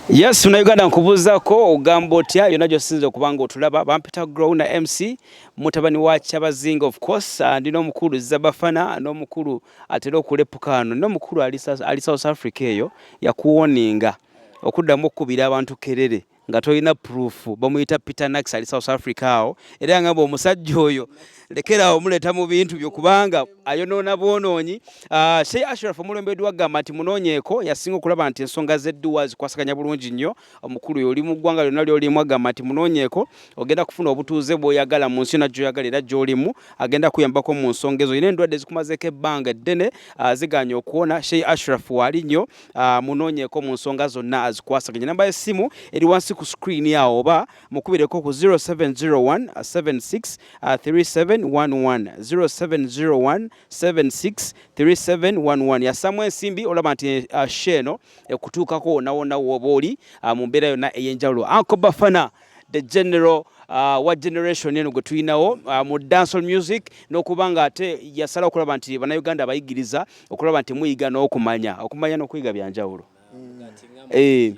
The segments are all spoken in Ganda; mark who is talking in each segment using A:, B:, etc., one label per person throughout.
A: Yes, muna Uganda nkubuuzako ogamba otya yonna gy'osinza okuba nga otulaba bampita grow na MC mutabani wa Kyabazinga of course ah, ndi n'omukulu Zabafana n'omukulu atera okulepuka ano n'omukulu ali South Africa eyo yakuwoninga okuddamu okukubira abantu kerere nga tolina proof bamuyita peter nax ali south africa awo era yangamba omusajja oyo lekerawo omuleeta mu bintu byo kubanga ayonoona bwonoonyi ah, shey ashraf omulembedi wagamba nti munoonyeeko yasinga okulaba nti ensonga zedduwa zikwasaganya bulungi nnyo omukulu yo oli mu ggwanga lyonna lyolimu agamba nti munoonyeeko ogenda kufuna obutuuze bwoyagala mu nsi yona gyoyagala era gyolimu agenda kuyambako mu nsonga ezo yina endwadde zikumazeeko ebbanga eddene ah, ziganye okuwona shey ashraf waali nnyo ah, munoonyeeko mu nsonga zonna azikwasaganya namba y'essimu eri wansi ku screen awo oba mukubireko ku 0701 76 3711 0701 76 3711 yasamu ensimbi olaba nti eh, ah, sheeno ekutuukako wonawona wooba oli ah, mu mbeera yonna ey'enjawulo anko bafana the general uh, wa generation eno gwe tulinawo uh, mu dancehall music n'okuba nga ate yasalawo okulaba nti bannayuganda abayigiriza okulaba nti muyiga n'okumanya okumanya n'okuyiga byanjawulo mm. eh,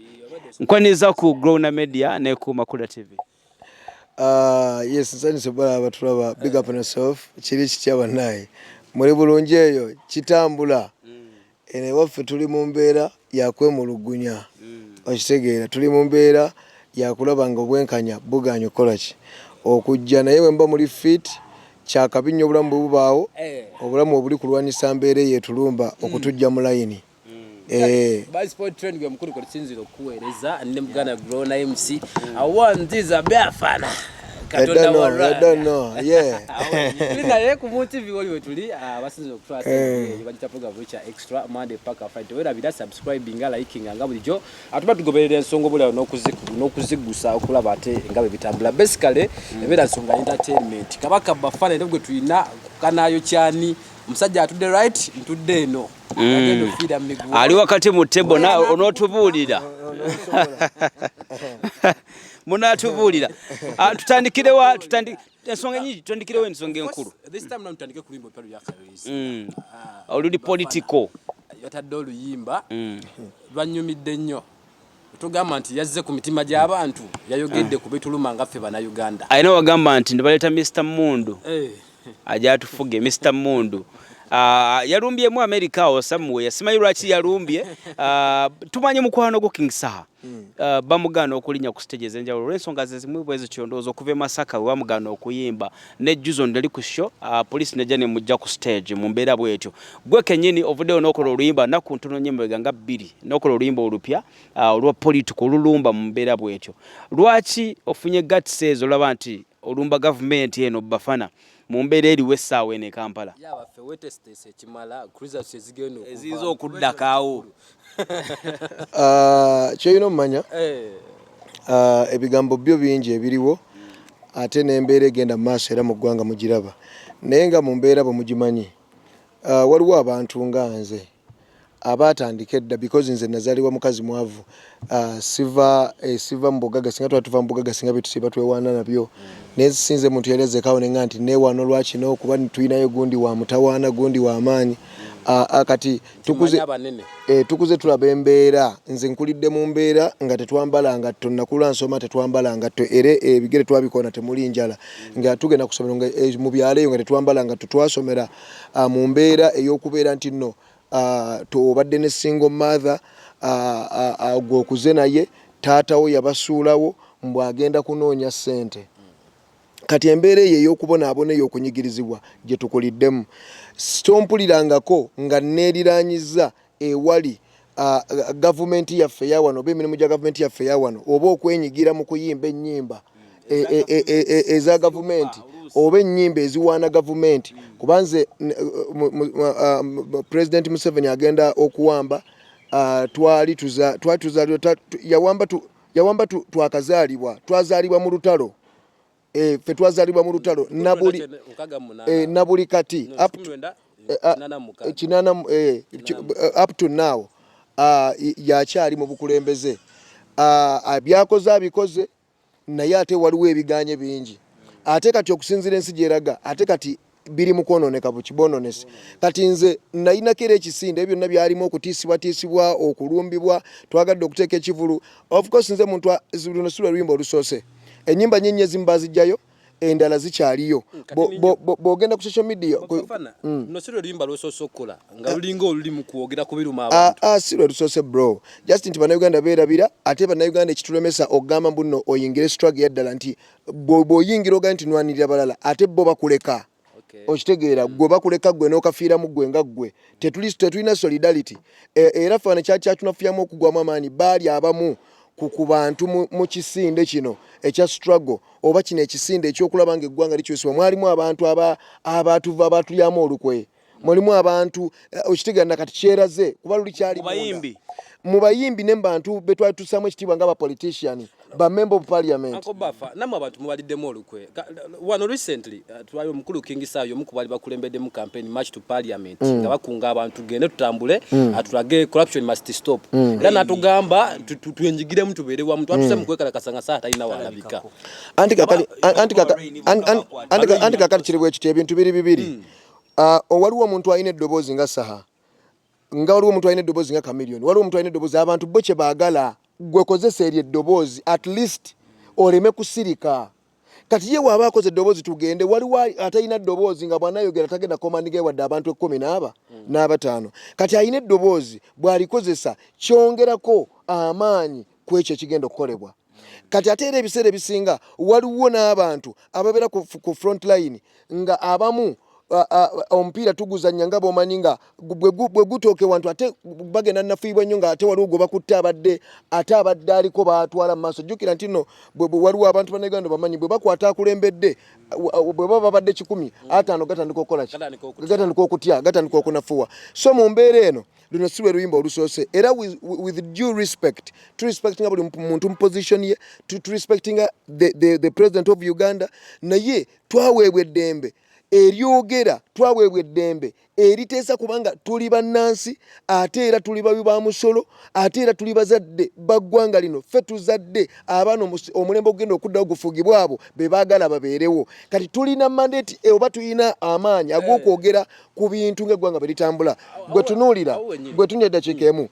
A: nkwaniriza ku growna media ne ku makula tv Uh,
B: yes nsanyuse bala abatulaba big up on yourself kiri kitya banaye muli bulungi eyo kitambula mm. Eno ewaffe tuli mu mbeera ya kwemulugunya, okitegeera, tuli mu mbeera ya kulaba nga obwenkanya bugaanyi okukola ki? okujja, naye bwe muba muli fit, kya kabi nnyo obulamu bwe bubaawo, obulamu we buli kulwanyisa mbeera eyo etulumba okutujja mu layini. Eh.
C: By sport trend gwe mukulu kwe tusinzira okukuweereza ne Buganda Grown MC. Awo nziza byafana. katonda
B: wa naye
C: ku mutivi oli wetuli abasinza okutwasbagita program ekya extra monday paka friday tewerabira subscribinga likinga nga bulijjo atuba tugoberera ensonga obulawo n'okuzigusa okulaba ate nga bwe bitambula basically mm. ebeera nsonga entertainment kabaka bafana era gwe tulina kukanayo kyani omusajja atudde right ntudde eno mm.
A: ali wakati mu tebo onotubuulira munatubuulira ah, tutandikirewa ensonga nyingi tutandikirewo ensonga enkulu mm.
C: ah, oluli
A: politico yatadde
C: oluyimba mm. lwanyumidde nnyo tugamba nti yazze ku mitima gy'abantu yayogedde ah. ku bituluma nga ffe banauganda alina wagamba nti
A: ndibaleeta mr mundu eh. ajatufuge Mr Mundu Uh, yalumbye mu America awo samuwe yasimanyi lwaki yalumbye uh, tumanye mukwano gwo King Saha hmm. uh, bamugana okulinya ku stage ezenjawulo olw'ensonga zezimu bwezo kyondooza okuva e Masaka we bamugana okuyimba ne Juzo ndali ku show uh, police nejja ne mujja ku stage mu mbeera bwetyo gwe kenyini ovuddeyo n'okola oluyimba naku ntono nnyo emabega nga bbiri n'okola oluyimba olupya uh, olwa political olulumba mu mbeera bwetyo lwaki ofunye gatsi ezo olaba nti olumba gavumenti eno Bafana mu mbeera eriwo essaawa eno e Kampala
C: eziyinza okuddakaawo
A: ah,
B: kyolina omumanya eh. ah, ebigambo byo bingi ebiriwo ate n'embeera egenda mu maaso era mu ggwanga mugiraba naye nga mu mbeera bwe mugimanyi ah, waliwo abantu nga nze abaatandika edda because nze nazalibwa mukazi mwavu uh, siva eh, siva mubugaga singa tuba tuva mubugaga singa byetusiba twewaana nabyo naye sinze muntu yali azekawo nenga nti newaana olwakino kuba tulinayo gundi wa mutawaana gundi wa maanyi uh, uh, kati tukuze, eh, tukuze tulaba embeera nze nkulidde mu mbeera nga tetwambala ngatto nakula nsoma tetwambala ngatto era ebigere eh, twabikoona temuli njala nga tugenda kusomero nga eh, mu byalo eyo nga tetwambala ngatto twasomera uh, mu mbeera ey'okubeera nti nno uh, tobadde ne single mother uh, uh, gwe okuze naye taatawo yabasuulawo mbu agenda kunoonya ssente kati embeera eyo ey'okubonaabona eyo okunyigirizibwa gye tukuliddemu sitompulirangako nga neeriraanyiza ewali gavumenti yaffe yawano oba emirimu gya gavumenti yaffe yawano oba okwenyigira mu kuyimba ennyimba e, e, e, eza gavumenti oba ennyimba eziwaana gavumenti kuba nze pulezidenti museveni agenda okuwamba twali yawamba twakazaalibwa twazaalibwa mu lutalo eh, fe twazalibwa mu lutalo nabuli eh, nabuli kati up to eh, ah, kinana eh, eh, up to now uh, yakyali mu bukulembeze uh, byakoze abikoze naye ate waliwo ebiganye bingi ate kati okusinzira ensi gyeraga ate kati biri mu kwonooneka buki boononese kati nze nayinako era ekisinde ebyo byonna byalimu okutiisibwatiisibwa okulumbibwa twagadde okuteeka ekivulu ofcourse nze muntu luno si lwe luyimba olusoose enyimba nyenye ezimu bazijjayo endala zikyaliyo bwogenda ku social media
C: mm. ah, ah, si lwe lusoose bro
B: just nti bannayuganda beerabira ate bannayuganda ekitulemesa okugamba mbuno oyingire strag yaddala nti bwoyingira ogaa nti nwanirira balala ate bo bakuleka okitegeera hmm. gwe bakuleka gwe nokafiiramu gwe nga gwe tetulina solidarity e, era fana kyakyatunafyamu okugwamu amaanyi baali abamu ku bantu mu kisinde kino ekya struggle oba kino ekisinde ekyokulaba nga eggwanga likyusibwa mwalimu abantu abatuva abatulyamu olukwe mulimu abantu eh, okitegana kati kyeraze kuba luli kyali mubayimbi mu bayimbi ne bantu be twali tusamu ekitiibwa nga abapolitician ba member of parliament ako bafa namwe abantu
C: mubaliddemu olukwe wano recently eh, twali omukulu king sayo omu kubali bakulembeddemu campaign march to parliament mm. nga bakunga abantu gende tutambule mm. atulage corruption must stop mm. era natugamba twenjigiremu tubeere wamu twatuse mu kwekalakasa nga saha talina waalabika
B: anti kakati kiri bwekityo ebintu biri bibiri Ah, oh, waliwo omuntu alina eddoboozi nga saha nga waliwo omuntu alina eddoboozi nga kamiliyoni waliwo omuntu alina eddoboozi abantu bo kye baagala gwe kozesa eryo eddoboozi at least oleme kusirika kati ye waaba akoze eddoboozi tugende waliwo atalina eddoboozi nga bwanayogera tagenda komandigae wadde abantu ekkumi naaba mm. n'abataano kati alina eddoboozi bw'alikozesa kyongerako amaanyi ku ekyo ekigenda okukolebwa kati ate era ebiseera ebisinga waliwo n'abantu ababeera ku front line nga abamu omupiira tuguzanya nga bomanyi nga bwe gutooke wantu ate bagenda nafuibwa nnyo nga ate waliwo gwe bakutte abadde ate abadde aliko batwala mu maaso jjukira nti no waliwo abantu banauganda bamanyi bwe bakwata akulembedde bwe baba babadde kikumi ataano gatandika okukola ki gatandika okutya gatandika okunafuwa so mu mbeera eno luno si lwe luyimba olusoose era with due respect to respectinga buli muntu mu position ye to respectinga the, the, the president of uganda naye twaweebwa eddembe eryogera twaweebwa eddembe eriteesa kubanga tuli bannansi ate era tuli babi ba musolo ate era tuli bazadde baggwanga lino ffe tuzadde abaana omulembe ogugenda okuddawo gufugibwa abo be baagala babeerewo kati tulina mandate eh, oba tulina amaanyi ag'okwogera ku bintu ng'eggwanga bwe litambula gwe tunuulira gwe tunya eddakiika emu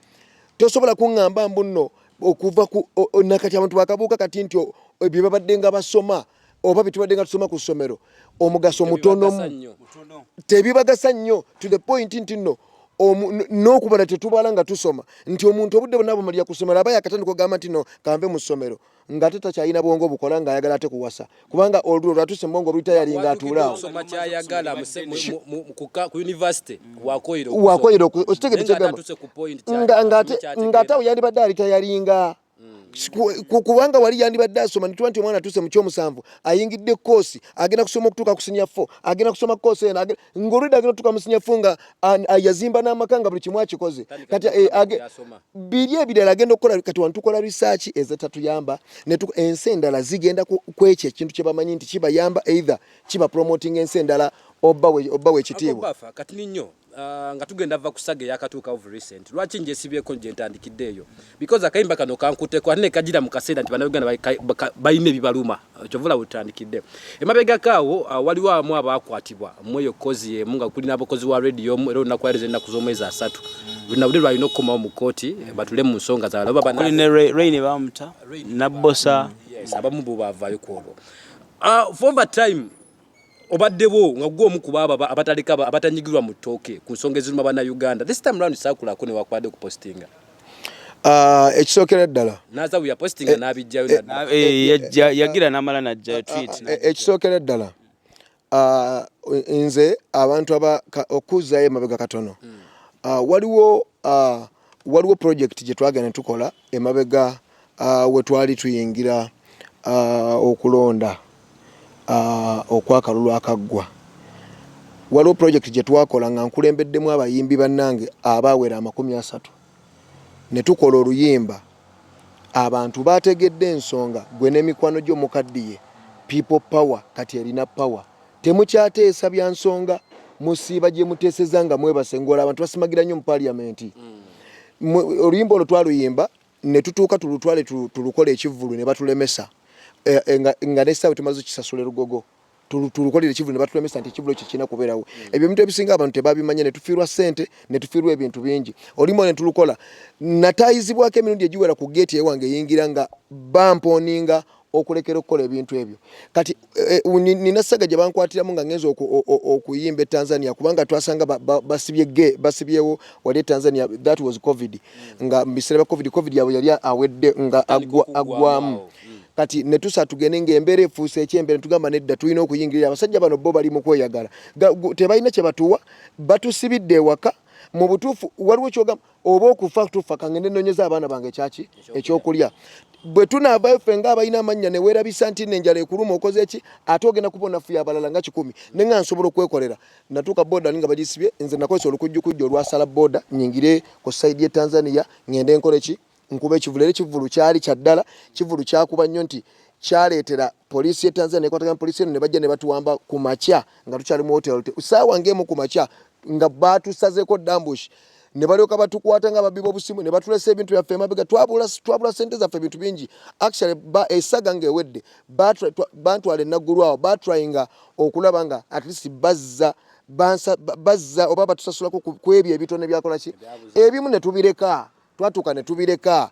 B: tosobola kuŋŋamba mbu nno okuva ku nakati abantu bakabuuka kati nti ebyo babadde nga basoma oba bitubadde nga tusoma ku ssomero omugaso mutonomu tebibagasa nnyo to the point nti nno n'okubala tetubala nga tusoma nti omuntu obudde bwonna bumalira ku ssomero aba yakatandika ogamba nti no kanve mu ssomero nga te takyalina bwongo bukola nga ayagala ate kuwasa kubanga olulo lwatuse mubwongo oluyita yalinga atuulaawo
C: wakoyera
B: okitegedekyegamngate awo yandibadde alita yalinga hmm. kubanga wali yandibadde asoma nituba nti omwana atuuse mu kyomusanvu ayingidde koosi agenda kusoma okutuuka ku sinya fo agenda kusoma koosi eno ng'olwedde agenda otuuka mu sinya fo nga Ah, yazimba n'amaka nga buli kimu akikoze kati eh, biri ebirala agenda okukola kati wano tukola risaaki ezitatuyamba ensi endala zigenda kwekyo ekintu kye bamanyi nti kibayamba either kiba promoting ensi endala oba wekitiibwa kati ninyo
C: ah, nga tugenda va kusaga eyakatuuka of recent lwaki njesibyeko gye ntandikidde eyo because akayimba kano kankuteko ate nekajira mu kaseera nti bannayuganda balina ebibaluma kyovula wetutandikidde emabegako awo uh, waliwo abamu abaakwatibwa mweyo kozi emu nga kuli n'abakozi wa rediyo omu era olunaku ayereza ennaku z'omwezi asatu luna bude lwalina okukomawo mu kkooti eh, batule mu nsonga zabalababanareine
A: bamuta nabbosa mm, abamu bo
C: baavaayo ku olwo uh, for over time obadde bwo nga gwe omu kuba ababa abataleka abatanyigirwa mu ttooke ku nsonga eziruma bana Uganda this time round sakula ako ne wakwade ku postinga ah,
B: ekisookera ddala nazabu ya postinga eh,
C: n'abijjayo eh, eh,
A: yagira n'amala najjayo ah, tweet ah, ekisookera ddala
B: nze abantu aba okuzzayo emabega katono hmm. waliwo Uh, waliwo project gye twagenda tukola emabega uh, we twali tuyingira uh, okulonda uh, okwakalulu akaggwa waliwo project gye twakola nga nkulembeddemu abayimbi bannange abaawera amakumi asatu ne tukola oluyimba abantu baategedde ensonga gwe n'emikwano gyo mukaddiye people power kati erina power Temukyateesa bya nsonga musiiba gye muteeseza nga mwebase ng'ola abantu basimagira nnyo mu paliyamenti. Mm. Oluyimba olwo twaluyimba ne tutuuka tulutwale tulukole ekivvulu ne batulemesa eh, eh, nga n'essaawe tumaze okisasula erugogo tulukolera ekivulu nebatulemesa nti ekivulu ekyo kirina kubeerawo mm. ebyo ebintu ebisinga abantu tebabimanya netufiirwa sente netufiirwa ebintu bingi olimu netulukola natayizibwako emirundi egiwera ku geeti ewange eyingira nga bamponinga okulekera okukola ebintu ebyo kati eh, eh, nina ssaga gye bankwatiramu nga ngenza okuyimba e tanzania kubanga twasanga basibye ge basibyewo wali e tanzania that was covid nga mubiseera bya covid covid yabwe yali awedde nga aggwamu mm. kati netusa tugende ngaembeera efuuse ekyembeera netugamba nedda tulina okuyingirira abasajja bano bo bali mu kweyagala tebalina kye batuwa batusibidde ewaka mu butuufu waliwo kyogamba oba okufa tufa kangende nonyeza abaana bange kyaki ekyokulya bwe tunaavayo ffe nga abalina amannya ne weerabisa nti nenjala ekuluma okoze eki ate ogenda kubona fuya abalala nga kikumi ne nga nsobola okwekolera natuuka boda ninga bagisibye nze nakozesa olukujjukujju olwasala boda nyingire ku saidi ye tanzania ngende nkole ki nkuba ekivulu era ekivulu kyali kya ddala kivulu kyakuba nnyo nti kyaleetera poliisi ye tanzania ekwatagana poliisi eno ne bajja ne batuwamba ku makya nga tukyali mu hotel saawa ngaemu ku makya nga baatusazeeko dambush ne balyoka batukwata nga babbi b'obusimu ne batulesa ebintu byaffe emabega twabula twabula sente zaffe ebintu bingi actually ba esaga nga ewedde bantwala enaggulu awo batrayinga okulaba nga at least bazza bazza oba batusasulako ku ebyo ebitone byakolaki ebimu ne tubireka twatuuka ne tubireka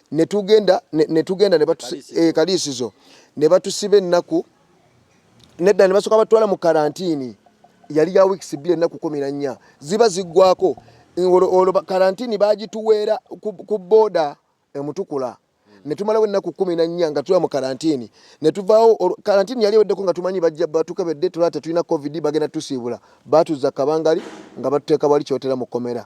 B: netugenda netugenda ne eh, kaliisizo ne batusiba ennaku nedda ne basooka batwala mu karantini yali ya wiikisi bbiri ennaku kumi na nnya ziba ziggwako olwo karantini bagituweera ku booda emutukula ne tumalawo ennaku kumi na nnya nga tuba mu karantini ne tuvaawo karantini yali eweddeko nga tumanyi bajja batukebedde tulaba tetulina covid bagenda tusiibula baatuzza kabangali nga batuteeka wali kyotera mu kkomera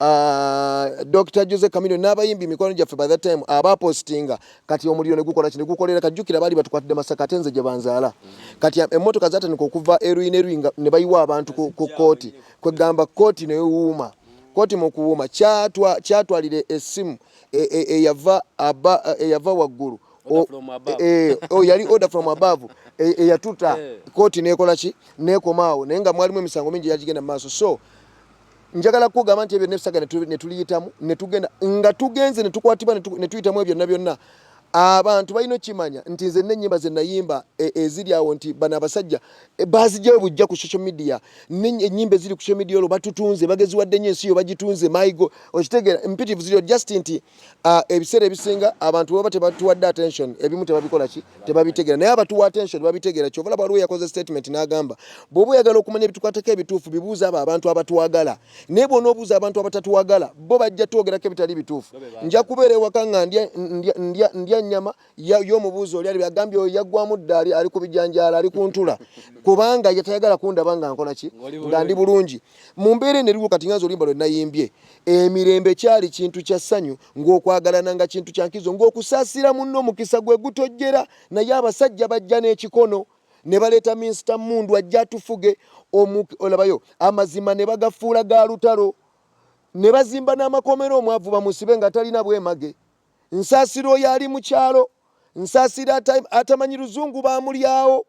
B: Ah, Dr. Jose Camino n'abayimbi mikwano gyaffe by that time aba postinga kati omuliro ne gukola kino gukolera kajjukira baali batukwatidde masaka ate nze gye banzaala kati ah, emmotoka zatandika okuva eruyi neruyi nga ne bayiwa abantu ku kkooti kwegamba kkooti newuuma kkooti mu kuwuuma kyatwalira essimu e, e, eyava eyava waggulu e, yali order from above eyatuta kkooti neekola ki neekomaawo naye nga mwalimu emisango mingi yagigenda mu maaso so njagala kugamba nti ebyo nebisaga netuliyitamu netugenda nga tugenze netukwatibwa netuyitamu ebyo byonna byonna abantu balina okimanya nti nze nenyimba zenayimba e, eziri awo nti bano abasajja e, bazijayo bujja ku social media enyimba eziri ku social media olwo batutunze bageziwadde nyo ensi yo bagitunze maigo okitegera mpitivu ziri just nti Ah, ebiseera ebisinga abantu baba tebatuwadde attention ebimu tebabikola ki tebabitegeera naye abatuwa attention babitegeera kyovala bwaliwo yakoze statement n'agamba bw'oba oyagala okumanya ebitukwatako ebituufu bibuuza abo abantu abatwagala naye bwona obuuza abantu abatatwagala bo bajja twogerako ebitali bituufu nja kubeera ewaka nga ndya nnyama yo omubuuzi oli ali agambye oyo yaggwamu dda ali ku bijanjaalo ali ku ntula kubanga yatayagala kundaba nga nkola ki nga ndi bulungi mu mbeera eno eriwo kati nganza olimba lwe nayimbye emirembe kyali kintu kya ssanyu ng'okwagalana nga kintu kya nkizo ng'okusaasira munno omukisa gwe gutojjera naye abasajja bajja n'ekikono ne baleeta minsita mundu ajja atufuge olabayo amazima ne bagafuula ga lutalo ne bazimba n'amakomera omwavu bamusibe nga talina bwemage Nsaasira oyo ali mu kyalo, Nsaasira atamanyi luzungu baamulyawo,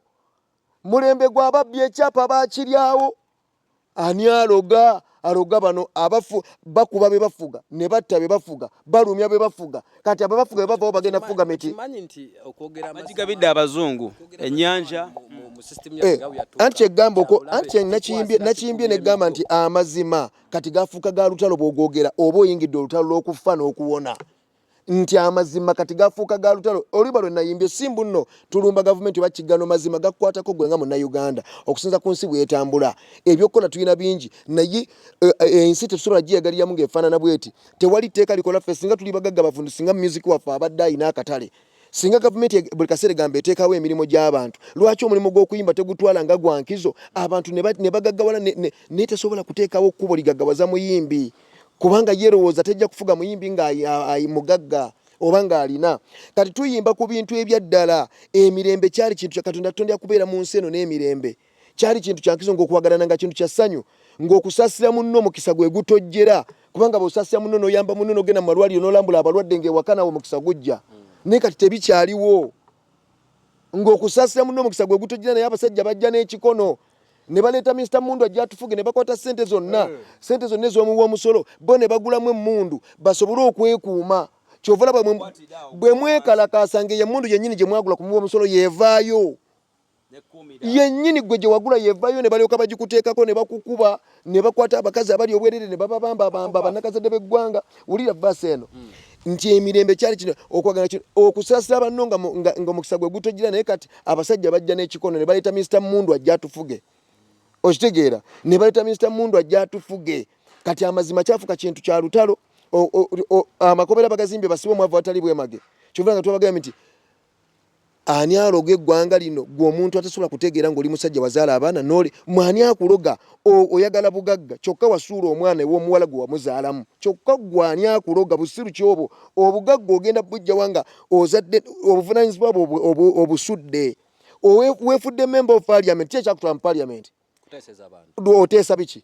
B: mulembe gwa babbi ekyapa baakiryawo, ani aloga aloga bano abafu bakuba be bafuga ne batta be bafuga balumya be bafuga kati abo bafuga be bavawo bagenda kufuga miti
A: agigabidde abazungu ennyanja eh,
B: anti kyegamba oko anti nakiyimbye negamba nti amazima kati gafuuka ga lutalo bwogwogera oba oyingidde olutalo lw'okufa n'okuwona nti amazima kati gafuuka ga lutalo oluba lwe nayimbye simbu nno tulumba gavumenti oba kiggano mazima gakukwatako gwe nga munnayuganda okusinza ku nsi bwetambula ebyokukola tulina bingi naye eh, eh, ensi tetusobola giyagaliramu ng'efaanana bweti tewali tteeka likola ffe singa tuli bagagga bavundu singa music waffe abadde alina akatale Singa gavumenti e-, buli kaseera egamba eteekawo emirimu gy'abantu, lwaki omulimu gw'okuyimba tegutwala nga gwa nkizo abantu ne bagaggawala naye tesobola kuteekawo kkubo ligaggawaza muyimbi kubanga yerowooza tejja kufuga muyimbi nga mugagga oba ng'alina kati tuyimba ku bintu ebyaddala emirembe kyali kintu kya katonda tutonda kubeera mu nsi eno n'emirembe Kyali kintu kya nkizo ng'okwagalana nga kintu kya ssanyu, ng'okusaasira munno omukisa gwe gutojjera kubanga bw'osaasira munno n'oyamba munno n'ogenda mu malwaliro n'olambula abalwadde ng'ewaka nawe omukisa gujja naye kati tebikyaliwo ng'okusaasira munno omukisa gwe gutojjera naye abasajja bajja n'ekikono ne baleeta minisita mundu ajja atufuge ne bakwata ssente zonna eh. ssente zonna ez'omuwa omusolo bo ne bagulamu emmundu basobole okwekuuma kyova olaba bwe mwekalakaasa ng'eyo emmundu yennyini gye mwagula ku muwa omusolo yeevaayo yennyini gwe gye wagula yevayo ne balyoka bagikuteekako ne bakukuba ne bakwata abakazi abali obwerere ne bababambabamba bannakazadde b'eggwanga wulira vaasi eno hmm. nti emirembe kyali kino okwagala kino okusaasira banno ngaomukisa gwe gutojira naye kati abasajja bajja n'ekikono ne baleeta minisita mundu ajja atufuge okitegeera ne baleeta minisita mundu ajja atufuge kati amazima kyafuka kintu kya lutalo amakomera bagazimbye basibe omwavu atali bwemage kyovula nga tubagambye nti Ani aloga eggwanga lino? Gwe omuntu atasobola kutegeera ng'oli musajja wazaala abaana nole mwani akuloga? Oyagala bugagga kyokka wasuula omwana ew'omuwala gwe wamuzaalamu kyokka gwe ani akuloga? Busiru ki obwo? Obugagga ogenda bujjawa nga ozadde obuvunaanyizibwa bwo obusudde? Weefudde member of parliament ki ekyakutwala mu parliament? Oteesa biki?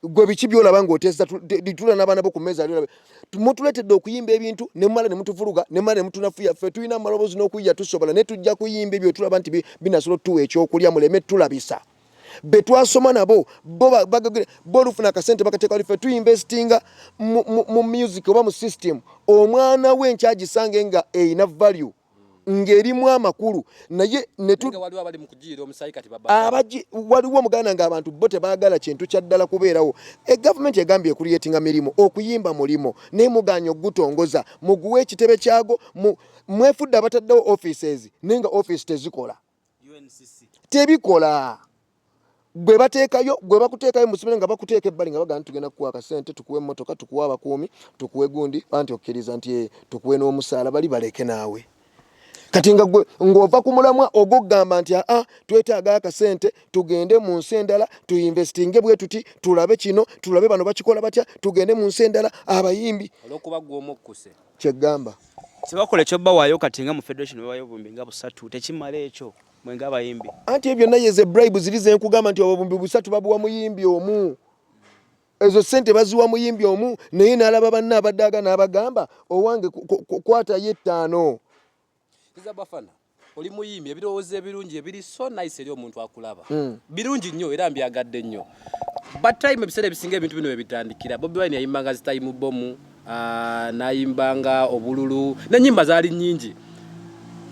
B: gwe biki byolaba ngaotesa ditula nabaana bo ku mmeeza lyolabe mutuletedde okuyimba ebintu nemumala ne mutuvuluga nemumala ne mutunafuya ffe tulina amaloboozi n'okuyiya tusobola naye tujja kuyimba ebyo tulaba nti binasobola otutuwa ekyokulya muleme tulabisa be twasoma nabo bo bagagire bo olufuna akasente bakateeka wali ffe tuinvestinga mu music oba mu system omwana we nkyagisange nga erina value ng'erimu amakulu naye waliwo omuganda ng'abantu bo tebaagala kintu kya ddala kubeerawo e gavumenti egambye ekuriyetinga mirimu okuyimba mulimu naye muganya okugutongoza muguwa ekitebe kyago mwefudde abataddewo offices naye nga office tezikola tebikola gwe batekayo gwe bakutekayo musibire nga bakuteka ebbali nga bagana tugenda kuwa akasente tukuwe motoka tukuwe abakuumi tukuwe gundi anti okkiriza nti eh, tukuwe n'omusaala bali baleke naawe kati nga gwe ng'ova ku mulamwa ogwokugamba nti aa twetaaga akasente tugende mu nsi endala tuinvestinge bwe tuti tulabe kino tulabe bano bakikola batya tugende mu nsi endala abayimbi olwokuba gwe omukkuse
C: kyegamba
B: kyebakola
A: ekyobawayo kati nga mu federation bawayo obumbi nga busatu tekimala ekyo mwe nga abayimbi anti ebyo naye ze
B: bribe ziri zenkugamba nti obumbi busatu babuwa muyimbi omu ezo sente baziwa muyimbi omu naye nalaba banne abadaaga nabagamba owange kwatayo ettaano Kiza
C: Bafana oli muyimbi ebirowoozo ebirungi ebiri so nice eri omuntu akulaba mm. birungi nnyo era mbyagadde nnyo but time ebiseera ebisinga ebintu bino webitandikira Bobi Wine yayimbanga zitayimu bomu uh, nayimbanga obululu nenyimba zaali nyingi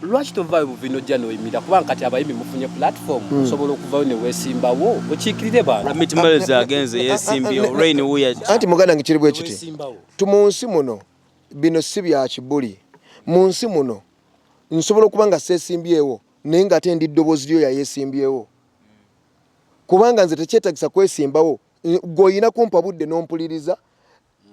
C: lwaki tovaayo buvina ojja noyimira kubanga kati abayimbi mufunye platform hmm. osobola okuvayo newesimbawo okiikirire bantumitimales agenze
A: yesimbyewo rain wuya anti muganda nge kiri bwekiti
B: tu mu nsi muno bino si bya kibuli mu nsi muno nsobola okuba nga seesimbyewo naye nga ate ndi ddoboozi lyo yayeesimbyewo kubanga nze tekyetagisa kwesimbawo gweolina kumpa budde n'ompuliriza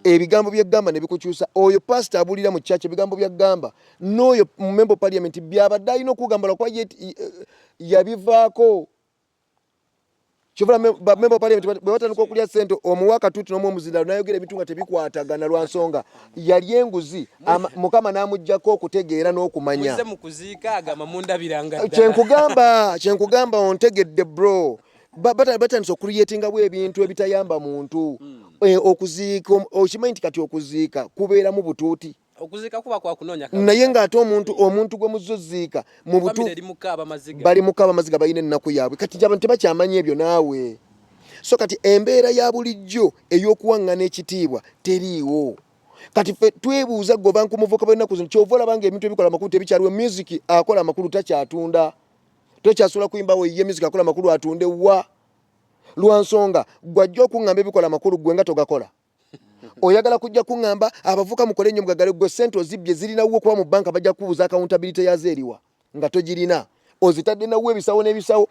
B: ebigambo byegamba nebikukyusa oyo pasita abulira mu kyaki ebigambo byagamba n'oyo mumemba parliament byabadde alina okugamba lwakuba yabivaako Kyovola ba member parliament bwe batandika okulya sente omuwa katuuti n'omu omuzindalo n'ayogera ebintu nga tebikwatagana lwa nsonga yali enguzi mukama n'amuggyako okutegeera n'okumanya kyenkugamba kyenkugamba ontegedde bro batandise okuliyetingawo ebintu ebitayamba muntu hmm. eh, okuziika okimanyi nti kati okuziika kubeeramu butuuti okuziika kuba kwa
C: kunoonya kabisa naye ng'ate omuntu
B: omuntu gwe muzze oziika mu butu bali mu kaaba amaziga balina ennaku yaabwe kati abantu tebakyamanyi ebyo naawe so kati embeera ya bulijjo ey'okuwaŋŋana ekitiibwa teriiwo kati fe twebuuza gwe obanku muvuka bwenaku zino kyova olaba nga ebintu ebikola amakulu tebikyaliwo music akola amakulu takyatunda tokyasula kuyimbawo ye music akola amakulu atunde wa lwansonga gwajja okuŋŋamba ebikola amakulu gwe nga togakola oyagala kujja kuŋŋamba abavuka mukole nnyo mugagale gwe sente ozibbye zirinawo okuba mu banka bajja kubuuza akawuntabilite yazo eriwa nga togirina ozitadde nawo ebisawo n'ebisawo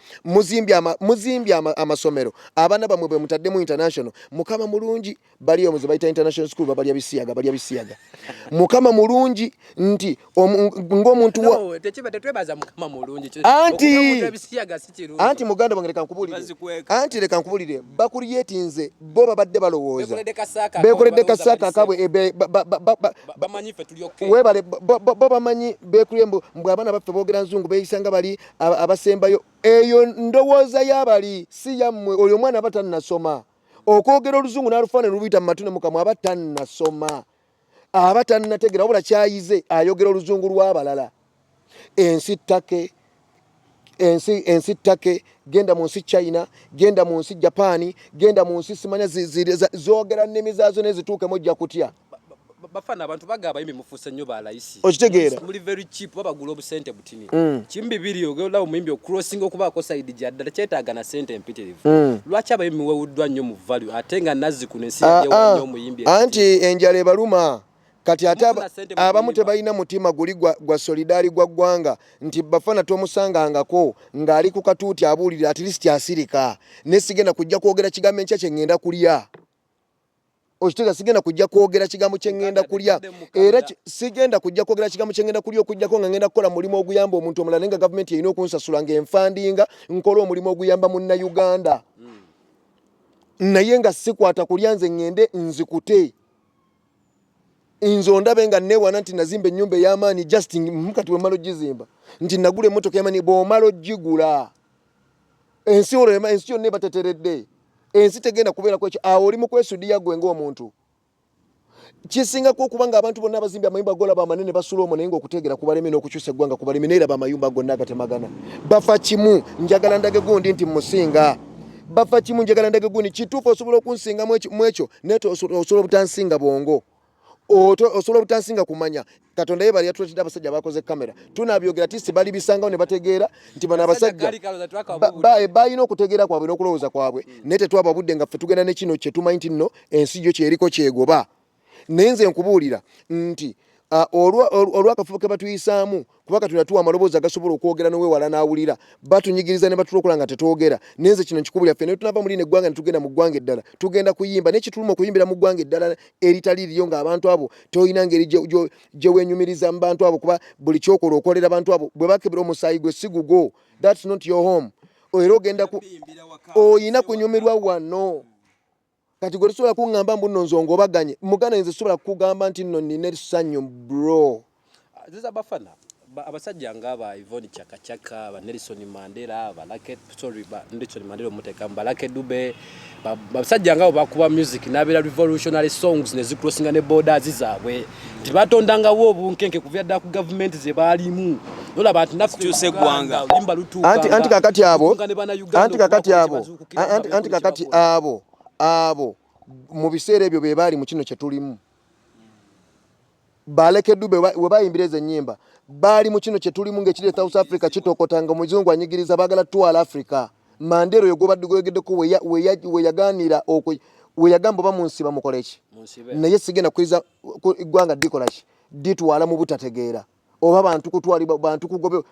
B: muzimbye amasomero abaana bamwe bwe mutaddemu international mukama mulungi bali omuze bayita international school babalya bisiyaga balya bisiyaga mukama mulungi nti ng'omuntu
C: anti
B: muganda wange leka nkubulire anti leka nkubulire bakuliyetinze bo babadde balowooza bekoledde kasaaka kabwe webale bo bamanyi bekulie mbu abaana baffe boogera nzungu beeyisa nga bali abasembayo eyo ndowooza yabali si yammwe oyo omwana aba tannasoma okwogera oluzungu n'alufaana lubuyita mu matu ne mukamwa aba tannasoma aba tannategera wabula kyayize ayogera oluzungu lw'abalala ensi ttake ensi ensi ttake genda mu nsi china genda mu nsi japaani genda mu nsi simanya zogera nnimi zaazo naye zituukemu ojja kutya bafana
C: abantu bagaba yimi mufuse nyo ba laisi okitegeera muli very
B: cheap baba
C: gulo obusente Tini. Mm. Kimbi biri ogenda omuyimbi okurosinga okuba ko side ja dala kyetaaga na sente empitirivu. Mm. Lwacha ba yimwe wudwa nyo mu value atenga nazi ku nsi ah, ya ah. nyo muyimbi. Anti enjale
B: baluma. Kati ate abamu tebalina mutima guli gwa, gwa solidari gwa gwanga nti bafana tomusanga ngako ngali ku katuuti abulira at least asirika nesigena kujja kwogera kigambo enkya kyengenda kulya okitegeera sigenda kujja kwogera kigambo kye ŋŋenda kulya era sigenda kujja kwogera kigambo kye ŋŋenda kulya okujjako nga ŋŋenda kukola mulimu oguyamba omuntu omulala naye nga gavumenti erina okunsasula nga enfandinga nkola omulimu oguyamba munnayuganda hmm. naye nga sikwata kulya nze ŋŋende nzikute nze ondabe nga newana nti nazimba ennyumba ey'amaanyi just mukati wemala ogizimba nti nagula emmotoka yamani bw'omala ogigula ensi olwo ensi yonna ebateteredde ensi tegenda kubeerako ekyo awo oli mukwesudiya gwe ngaomuntu kisingako okuba nga abantu bonna abazimbi amayumba golaba amanene basula omwo naye nga okuteegera kubaleme n'okukyusa eggwanga kubaleme naye laba amayumba gonna agatemagana bafa kimu njagala ndage gundi nti musinga bafa kimu njagala ndage gundi kituufu osobola okunsinga mu ekyo naye osobola obutansinga bwongo osobola obutansinga kumanya katonda yebali yatuletedde abasajja bakoze kamera tunabyogera tisi bali bisangawo ne bategeera nti bano abasajja balina okutegeera kwabwe n'okulowooza kwabwe hmm. naye tetwaba budde nga ffe tugenda ne kino kye tumanyi nti nno ensi gyo kyeriko kyegoba naye nze nkubuulira nti olwakafubo ke batuyisaamu kuba katonda tuwa amaloboozi agasobola okwogera nowewala n'awulira batunyigiriza ne batulokola nga tetwogera naye nze kino nkikubulira ffe naye tunava mu lino eggwanga ne tugenda mu ggwanga eddala tugenda kuyimba naye kituluma okuyimbira mu ggwanga eddala eritali liriyo ng'abantu abo tolina ngeri gye wenyumiriza mu bantu abo kuba buli kyokola okolera abantu abo bwe bakebera omusaayi gwe si gugwo thats not your home era ogenda ku oyina kunyumirwa wano kati gwe tosobola kuŋŋamba mbu nno nze ongobaganye muganda nze sobola kukugamba nti nno nnina essanyu bro ziza
C: bafana abasajja nga ba Yvonne Chakachaka ba Nelson Mandela ba Lucky sorry ba Nelson Mandela omuteka ba Lucky Dube abasajja nga bakuba music nabera revolutionary songs ne zikrosinga ne borders zaabwe nti batondanga wo obunkenke kuvya dda ku government ze baalimu nola bantu nakukyusa eggwanga
A: anti
C: kakati abo
B: anti kakati abo anti kakati abo abo mu biseera ebyo be baali mu kino kye tulimu baleke dube we bayimbira ezo ennyimba baali mu kino kye tulimu ng'ekiri e south africa kitokota nga omuzungu anyigiriza baagala tutwala africa mandera oyo gwobadde goyogeddeko weyaganira weyagamba oba munsi bamukoleki naye sigenda kuiza ggwanga dikola ki ditwala mu butategeera oba bantu kutwalibwa bantu kugobe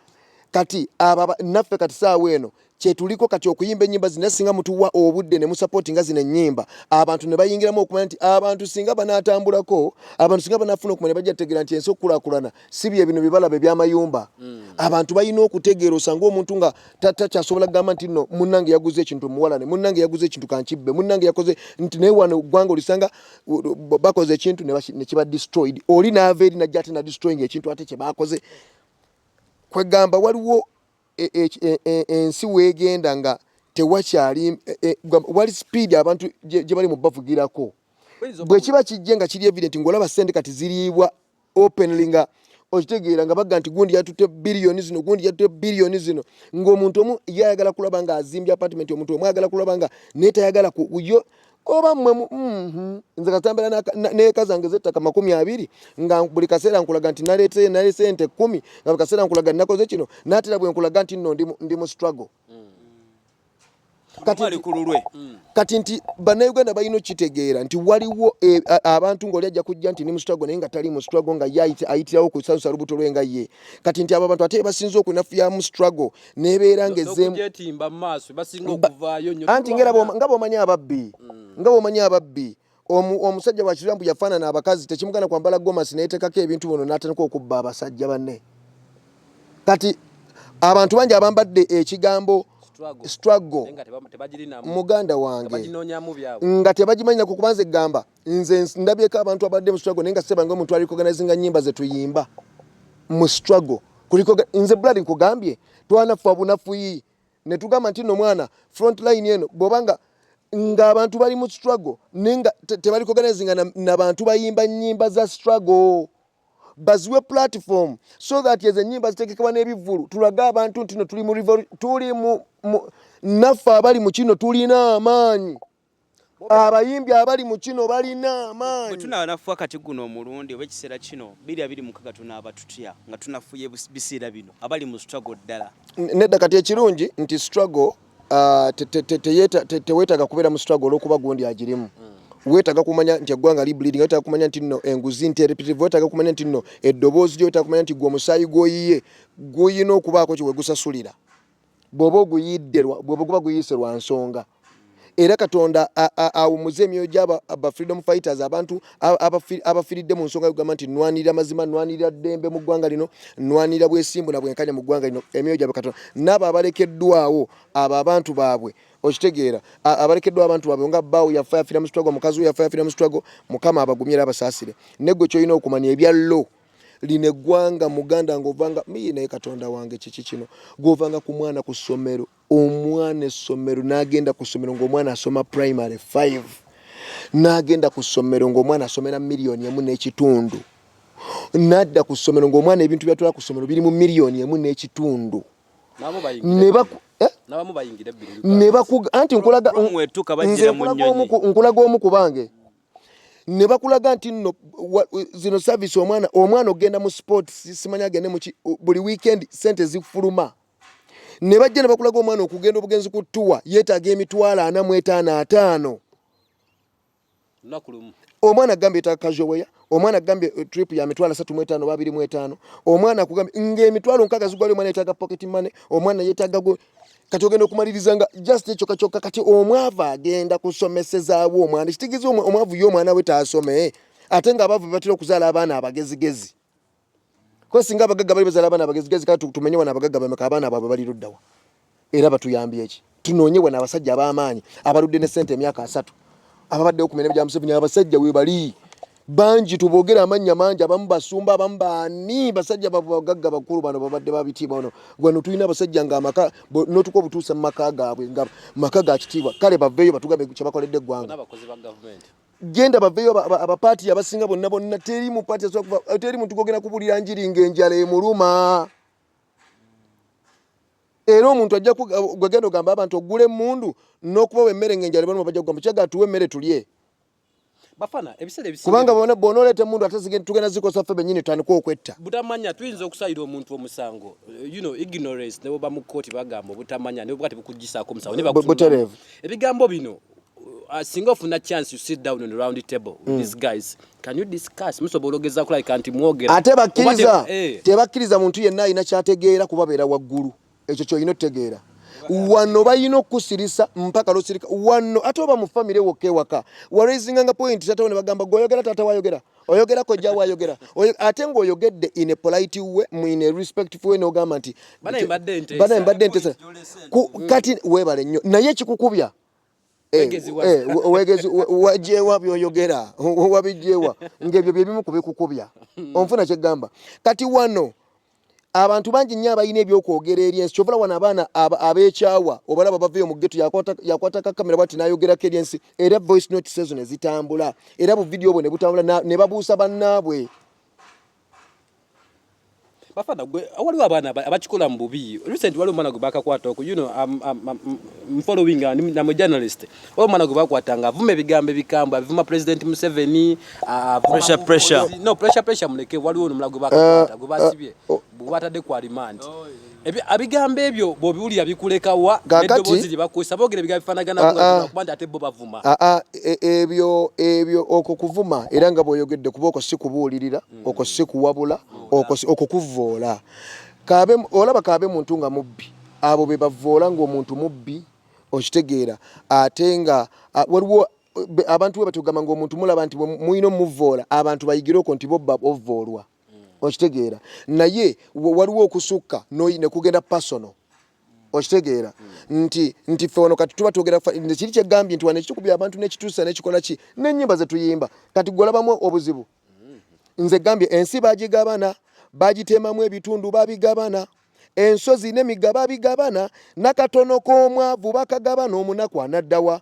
B: kati aba naffe kati saawa eno kyetuliko kati okuyimba enyimba zina singa mutuwa obudde ne musapoti nga zina enyimba abantu ne bayingiramu okumanya nti abantu singa banatambulako abantu singa banafuna okumanya bajja tegera nti ensi okukulakulana si bye bino bibalaba ebyamayumba mm. abantu balina okutegeera osanga omuntu nga takyasobola kugamba nti no munange yaguze ekintu muwalane munange yaguze ekintu kankibbe munange yakoze nti naye wano gwanga olisanga bakoze ekintu nekiba destroyed oli naava eri najja ate nadestroying ekintu ate kyebakoze kwegamba waliwo e, e, e, ensi wegenda nga tewakyali wali speed abantu gyebali mubavugirako bwekiba kijje nga kiri evident ngaolaba sente kati ziriibwa openly nga okitegeera nga bagga nti gundi yatutte biliyoni zino gundi yatutte biliyoni zino ng'omuntu omu ye ayagala kulaba nga azimbye apartment omuntu omu ayagala kulaba nga naye tayagala kuyo oba mmwe mhm, nze katambira neeka zange zettaka makumi abiri nga buli kaseera nkulaga nti naleetee nalesente kkumi nga buli kaseera nkulaga nnakoze kino naatera bwe nkulaga nti nno ndi mu struggle kati nti bannayuganda balina okukitegeera nti waliwo e, abantu ngaoli ajja kujja nti ni musitwago naye nga tali musitwago nga ayitirawo kusalusa lubuto lwe nga ye kati nti abo abantu ate basinza okunafuya musitwago nebeera nga ezeemuanti nga bwomanyi ababbi mm. nga bwomanyi ababbi omusajja bwakirira mbu yafaanana abakazi tekimugana kwambala gomasi nayetekako ebintu bino natandika okubba abasajja banne kati abantu bangi abambadde ekigambo struggle muganda wange nga tebagimanyina ku kubanza egamba nze ndabyeko abantu abadde mu struggle naye nga sebange omuntu alikoganizinga nyimba zetuyimba mu struggle kuliko nze bulali nkugambye twanafa bunafuyi ne tugamba nti no mwana front line eno bwoba nga nga abantu bali mu struggle naye nga tebali koganezi nga nabantu na bayimba nyimba za struggle baziwe platform so that ezo enyimba zitegekebwa n'ebivvulu tulage abantu nti no tuli mu tuli mu naffe abali mu kino tulina amaanyi abayimbi abali mu kino balina amaanyi bwe tunaanafuwa kati
A: guno omulundi oba ekiseera kino biri abiri mukaga tunaaba tutya nga tunafuye biseera bino abali mu struggle ddala nedda kati ekirungi
B: nti struggle ah, teweetaaga kubeera mu struggle olwokuba gundi agirimu mm. wetaga kumanya nti eggwanga li bleeding wetaga kumanya nti no enguzi nti repetitive wetaga kumanya nti no eddoboozi lyo wetaga kumanya nti gwe omusaayi gwoyiye guyina okubaako kyewegusasulira bwoba oguyidde bwoba guba guyise lwa nsonga era katonda awumuze emyoyo gyaba freedom fighters abantu abafiridde mu nsonga yogamba nti nwanirira mazima nwanirira ddembe mu ggwanga lino nwanirira bwesimbu na bwenkanya mu ggwanga lino emyoyo gyabwe katonda naabo abalekeddwawo abo abantu baabwe okitegeera abalekeddwa abantu baabwe nga baawo yafa yafira mu sitwago mukazi we yafa yafira mu sitwago mukama abagumye era abasaasire negwe kyolina okumanya ebya low lino eggwanga muganda ngaovanga miyi naye katonda wange kiki kino gweovanga ku mwana ku ssomero omwana essomero n'agenda ku ssomero ng'omwana asoma primary 5 n'agenda ku ssomero ng'omwana asomera miliyoni emu n'ekitundu n'adda ku ssomero ng'omwana ebintu byatwala ku ssomero biri mu miliyoni emu n'ekitundu eh? anti nkulaga omu ku bange ne bakulaga nti nno zino service omwana omwana okugenda mu sports simanyi agende mu buli weekend sente zifuluma ne bajja ne bakulaga omwana okugenda obugenzi ku tuwa yeetaaga emitwalo ana mu etaano ataano omwana agambye yetaaga kajoweya omwana agambye eh, trip ya mitwalo asatu mu etaano babiri mu etaano omwana akugambye ng'emitwalo nkaaga zigwali omwana yetaaga pocket money omwana yetaaga kati ogenda okumaliriza nga just ekyo kakyoka kati omwavu agenda kusomesezaawo omwana ekitegeeza omwavu ye omwana we taasome ate nga abaavu bebatera okuzaala abaana abagezigezi kuba singa abagagga bali bazaala abaana abagezigezi kaa tumenye wana abagagga bameka abaana baabwe bali luddawa era batuyambye eki tunoonye wana abasajja ab'amaanyi abaludde ne sente emyaka asatu ababaddewo ku mirembe gya museveni abasajja webali bangi tubogera amannya mangi abamu basumba abamu baani basajja babagagga bakulu bano babadde babitiibwa ono gwano tulina abasajja nga amaka notuka obutuusa mu maka gaabwe nga maka ga kitiibwa kale baveeyo batugambe kyebakoledde eggwanga genda baveeyo abapaati abasinga bonna bonna teri mupaati teri muntu gogenda kubulira njiri ngaenjala emuluma era omuntu ajja gwegenda ogamba abantu ogula emundu n'okubawa emmere ngaenjala ebaluma bajja kugamba kyagatuwa emmere tulye
C: kubanga bwona oleeta emundu
B: ate tugenda zikosa ffe benyini tutandika okwetta butamanya tuyinza
C: okusalira omuntu omusango eh, you know ignorance ne bwoba mu kkooti bagamba obutamanya ne bwoba tebukuggisaako omusango ne bakutereevu ebigambo bino uh, uh, singa ofuna chance you sit down on the round table with mm. these guys can you discuss musobola ogeza kulabika nti mwogera ate bakkiriza
B: eh. tebakkiriza muntu yenna alina kyategeera kubabeera waggulu ekyo kyolina otegeera wano balina okukusirisa mpaka losirika wano ate oba mu famire wokka ewaka waraisinganga point tatawo ne bagamba gweoyogera tata wayogera oyogera kojja wayogera ate ngaoyogedde in a polite way in a respectful way nogamba nti bana
C: embadde ntesa
B: kati webale nnyo naye ekikukubya Eh, eh, wegezi wajewa byoyogera wabijewa ngebyo byebimu kubikukubya hmm. onfuna kyegamba kati wano abantu bangi nnyo abalina ebyokwogera eri ensi kyovala wano abaana abekyawa obalaba baveyo mu geto yakwata kakamera bati nayogerako eri ensi era voice notes ezo nezitambula era buvidiyo bwe nebutambula nebabuusa bannaabwe
C: bafana gwe waliwo abaana abakikola mu bubi recent waliwo omwana gwe bakakwata oku you know I'm, I'm, I'm, I'm following uh, I'm a journalist oyo omwana gwe bakwata nga avuma ebigambo ebikambwe avuma president Museveni uh, pressure pressure no pressure pressure muleke waliwo omwana gwe bakakwata
A: uh, gwe
C: basibye uh, oh. bwatadde kwa remand oh, Abigambo ebyo bwobiwulira bikuleka wa neddoboozi lye bakozesa boogera ebigambo bifaanaganako ah, ah. kuba nti ate bo bavuma ah, e, ebyo
B: ebyo okwo kuvuma era nga bw'oyogedde kuba okwo si kubuulirira mm. okwo si kuwabula okwo kuvvoola olaba kaabe muntu nga mubbi abo be bavvoola ng'omuntu mubbi okitegeera ate nga waliwo abantu we batugamba ng'omuntu mulaba nti mulina omuvvoola abantu bayigire okwo nti bo bobvoolwa okitegeera naye waliwo okusukka nekugenda personal okitegeera nti nti fe wano kati tuba twogera kiri kyegambye nti wano ekitukubi abantu nekituusa nekikola ki nenyimba zetuyimba kati gwolabamu obuzibu nze gambye ensi bagigabana bagitemamu ebitundu babigabana ensozi nemiga babigabana nakatono komwavu bakagabana omunaku anaddawa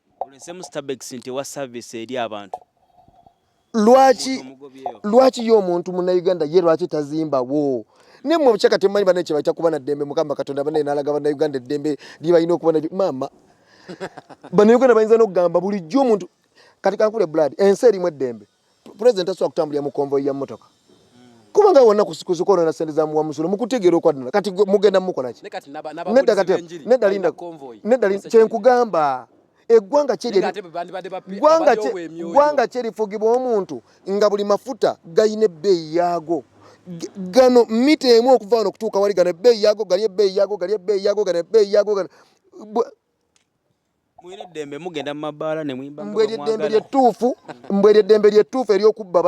B: olesemu stabex nti wa service eri abantu lwaki lwaki yo omuntu muna Uganda ye lwaki tazimba wo ne mu chaka temanyi bana kye baita kubana dembe mukamba katonda bana nalaga bana Uganda dembe liba ino kubana mama bana Uganda bayinza no gamba buli jo omuntu kati kankule blood ense eri mu dembe president asobola kutambulira mu konvoyi ya mmotoka kubanga wonna kuzikonona sente za muwa musolo mukutegeera okwaddala kati mugenda mukolaki nedda kati nedda linda nedda kyenkugamba eggwanga ggwanga kyerifugibwa omuntu nga buli mafuta galina ebbeeyi yaago gano mita emu okuva wano okutuuka wali gano ebbeeyi yaago gali ebbeeyi yaago gali ebbeeyi yaago gano ebbeeyi yaago gano mulina eddembe mugenda mu mabaala ne muyimba nga mwagala. Mbwe eddembe lyettuufu, mbwe eddembe lyettuufu ery'okubba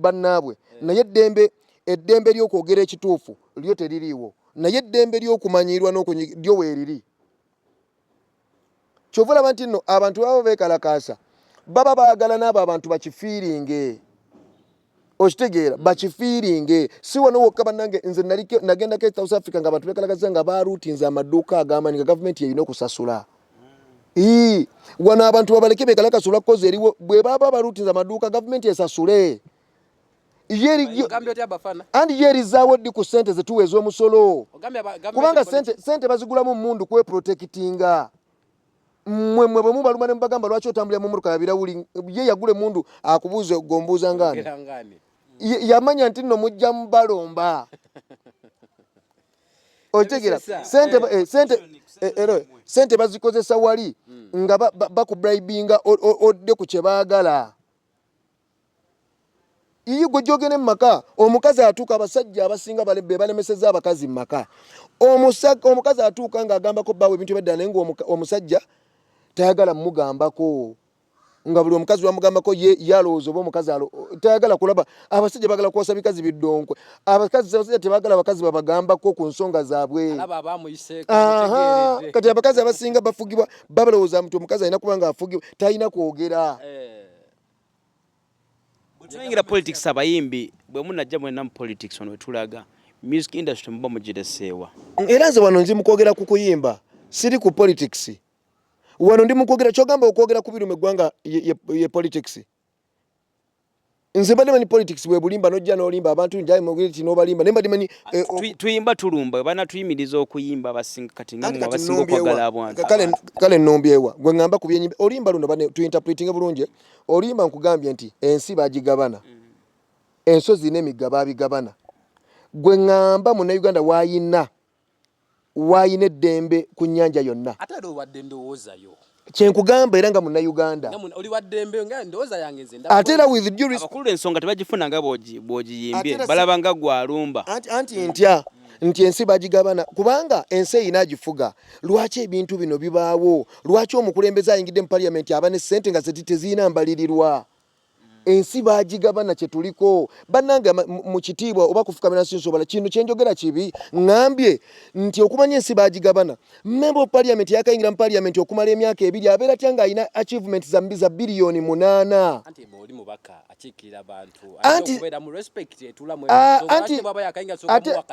B: bannaabwe, naye eddembe eddembe ly'okwogera ekituufu lyo teririiwo, naye eddembe ly'okumanyiirwa n'okunyi lyo weeriri. Kyova olaba nti nno abantu baba beekalakaasa baba baagala n'abo abantu bakifiiringe. okitegeera bakifiiringe si wano wokka bannange nze nagendako e south africa nga abantu bekalagaza nga baruutinze amaduuka agamanyi nga gavumenti yeyina okusasula ii wano abantu babaleke bekalakasula kukozi eriwo bwe baba baruutinze amaduuka gavumenti esasule andi yo erizaawo ddi ku sente zetuwa ez'omusolo kubanga sente bazigulamu mundu kweprotekitinga mwe mwe bwemu baluma ne mubagamba lwaki otambulira mu muruka yabira wuli ye yagule mundu akubuuze gombuuza ngani yamanya nti no mujja mubalomba otegera sente eh, sente eh, ero sente bazikozesa wali hmm. nga bakubribinga odde ku kye baagala Yiyi gwe jogene maka omukazi atuuka abasajja abasinga bebalemeseza abakazi maka omukazi atuuka nga agambako bawe ebintu ebedda naye nga omusajja tayagala mugambako nga buli omukazi wamugambako ye yalowooza oba omukazi tayagala kulaba abasajja bagala kuwasa bikazi biddonkwe abakazi abasajja tebagala abakazi babagambako ku nsonga zaabwe kati abakazi abasinga bafugibwa babalowooza nti omukazi alina kuba nga afugibwa talina kwogera eh.
A: bwetulengera politics abayimbi bwe munajja mwenna mu politics ono wetulaga music industry muba mugireseewa era nze wano nzi
B: mukwogera ku kuyimba siri ku politics wano ndi mukwogera kyogamba okwogera ku biruma eggwanga ye politics nze mbadde manyi politics bwe bulimba nojja nolimba abantu njaye mugire kino obalimba naye mbadde manyi eh, tuyimba tulumba
A: bana tuyimiriza okuyimba abasinga kati nga mwabasinga okwagala abantu kale nnombyewa
B: gwe ŋŋamba ku byenyimba olimba luno bane tuinterpretinge bulungi olimba nkugambye nti ensi bagigabana mm. ensozi n'emigga babigabana gwe ŋŋamba munnayuganda wayina wayina eddembe ku nnyanja yonna ate era obadde ndowoozayo
C: kyenkugamba
B: era nga munayuganda
C: ate era withensonga
B: tebagifuna nga
A: bwogiyimbye balaba nga gwalumba anti ntya
B: nti ensi bagigabana kubanga ensi eyina agifuga lwaki ebintu bino bibaawo lwaki omukulembeze ayingidde mu paliamenti aba ne sente nga zeti teziyina mbalirirwa ensi bagigabana kyetuliko banange mu kitiibwa oba kufukamira nsi nsobala kino kyenjogera kibi ngambye nti okumanya ensi bagigabana member of parliament yakayingira mu parliament okumala emyaka ebiri abeera tya ng'alina achievement za mbiza biliyoni munaana
C: anti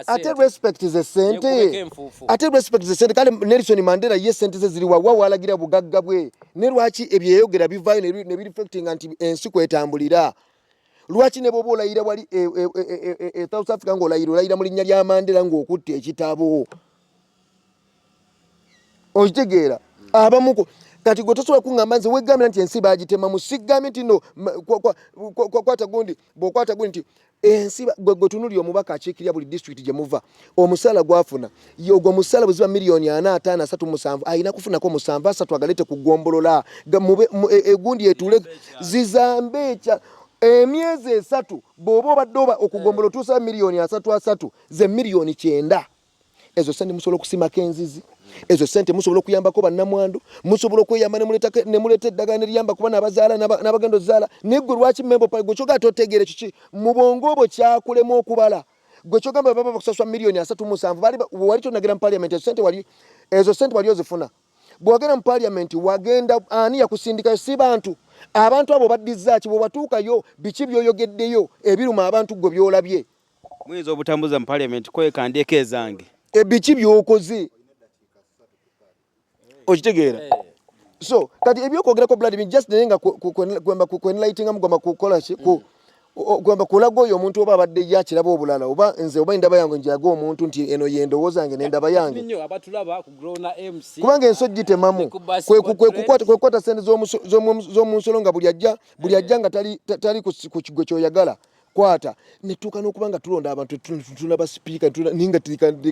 B: ate respect ze sente ate respect ze sente kale Nelson Mandela ye sente ze ziri wawa walagira bugagga bwe ne lwaki ebyeyogera bivayo ne bi reflecting anti ensi kwetambulira lwaki ne bwoba olayira wali e, e, e, e, e, e, South Africa ng'olayira olayira mu linnya lya Mandela ng'okutte ekitabo okitegeera abamuku kati gwe tosobola kuŋamba nze wegambira nti ensi bagitema musigambe nti no kwata gundi bwokwata gundi nti ensi gwe tunuli omubaka akiikirira buli disitulikiti gye muva omusaala gwafuna ogwo musaala bweziba miliyoni ana ataano asatu musanvu alina kufunako musanvu asatu agalete ku ggombolola e, egundi etuule zizambe ekya emyezi esatu bw'oba obadde oba okugombola otuusa miliyoni asatu asatu ze miliyoni kyenda ezo sente musobola okusimako enzizi ezo sente musobola okuyambako bannamwandu musobola okweyamba nemuleeta eddagala neriyamba kubana abazaala n'abagenda ozaala naye gwe lwaki membo pale gwe kyogamba totegeere kiki mu bwongo obwo kyakulemu okubala gwe kyogamba baba bakusaswa miliyoni asatu musanvu wali tonagira mu paliamenti ezo sente wali ezo sente wali ozifuna bwewagenda mu paliamenti wagenda ani yakusindikayo si bantu abantu abo baddizaaki bwewatuukayo biki byoyogeddeyo ebiruma abantu gwe byolabye Muyinza obutambuza
A: mu parliament kweka ndeko ezange. Ebiki byokoze?
B: Okitegeera? Eh. So, kati ebyokwogera ko blood mean just nenga kwemba ku enlightening amu goma kukola ki ku kwemba kulago yo omuntu oba abadde ya kirabo obulala oba nze oba ndaba yange njago omuntu nti eno yendo wozange ne ndaba yange ninyo abatulaba ku grow na MC kubanga ensojji temamu kwe ku kwe kukwata kwe kwata sente zo zo mu nsolo nga buli ajja buli ajja nga tali tali ku kigwe kyoyagala kwata netuuka nokuba nga tulonda abantu tuna basipiika ninga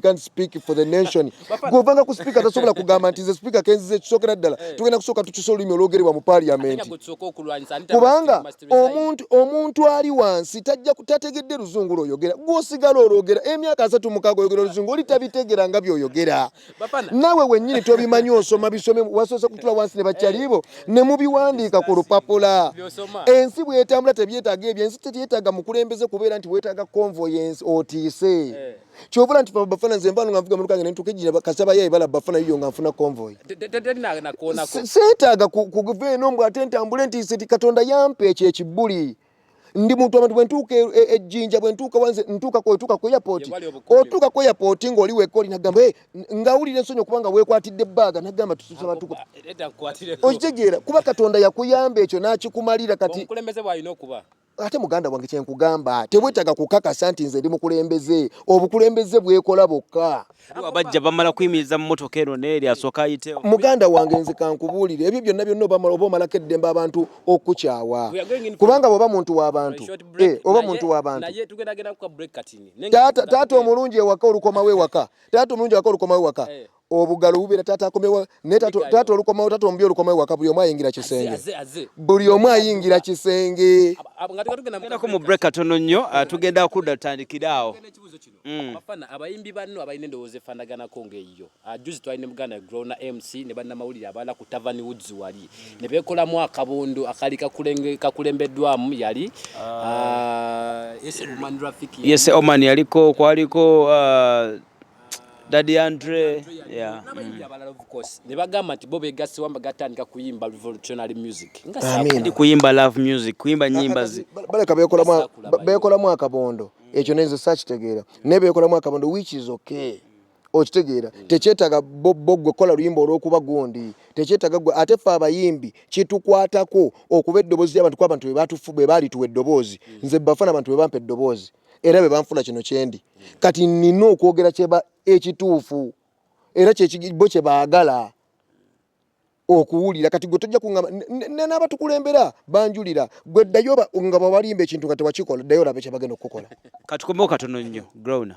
B: can speak for the nation gwovanga ku sipiika tasobola kugamba nti nze sipiika kenzize kisokera ddala eh. tugenda kusooka tukisa olulimi olwogerebwa mu paliamenti kubanga omuntu omuntu ali wansi tajja tategedde luzungu lwoyogera gwosigala olwogera emyaka asatu mukaaga oyogera oluzungu oli tabitegera nga byoyogera nawe wenyini tobimanyi osoma bisome wasose kutula wansi ne bakyalibo ne mubiwandiika ku lupapula ensi bwetambula tebyetaga ebyo ensi tebyetaga mukulembeze kubeera nti wetaga konvo yensi otiise eh. kyobula nti bafana nze mbano nga nvuga mu lukange nentuka ejjina kasaba yaye bala bafana yiyo nga nfuna konvoyi seetaaga kuva eno mbw ate ntambule nti katonda yampa ekyo ekibbuli e ndi muntu abantu bwe ntuuka e, e, ejjinja bwe ntuuka wanze ntuuka ku otuuka ku airport otuuka ku airport ng'oli wekka oli nagamba eh, nga wulira ensonyi okuba nga weekwatidde ebbaaga nagamba tususaba tuku okitegeera kuba katonda yakuyamba ekyo n'akikumalira kati ate muganda wange kyenkugamba tebwetaaga kukakasa nti nze ndi mukulembeze obukulembeze bwekola bwokka abajja bamala
A: kuyimiriza mu motoka eno neeri asooka ayite muganda wange nze
B: kankubuulire ebyo byonna byonna oba omalako eddembe abantu okukyawa kubanga bwoba muntu w'abantu eh, oba muntu w'abantu taata omulungi ewaka olukomawo ewaka taata omulungi ewaka olukomawo ewaka eh. obugalo bubeera taata akomewo naye taata olukomawo taata omubi olukomawo ewaka buli omu ayingira kisenge buli omu ayingira kisenge nga tugenda
A: kugenda mu break katono nnyo ah, tugenda kudda tutandikire awo mm. abafana
C: abayimbi banno abalina endowooza efanaganako ngaeyiyo ah, juzi twali ne muganda grona mc ne bannamawulire abalala ku tavani woods wali mm. ne beekolamu akabondo akali kakulembeddwamu yali
A: ah. yes oman yaliko kwaliko uh, Daddy Andre yeah
C: mm. ne bagamba nti bo begassi wamba gatandika kuyimba revolutionary music nga ndi kuyimba
A: love music kuyimba nyimba zi baleka bekola
B: mwa bekola mwa kabondo ekyo nenze sakitegeera naye bekolamu akabondo which is okay okitegeera tekyetaga bo gwe kola luyimba olwokuba gundi tekyetaga gwe ate fe abayimbi kitukwatako okuba eddoboozi lyabantu kuba abantu bwe baalituwa eddoboozi nze bafana abantu bwe bampa eddoboozi era bwe banfuna kino kyendi kati nina okwogera kyeba ekituufu era bo kye baagala okuwulira kati gwe tojja kungamba n'abatukulembera banjulira gwe ddayo nga babalimba ekintu nga tewakikola ddayo
A: olabe
B: kyebagenda okukukola katukomeo katono nnyo growna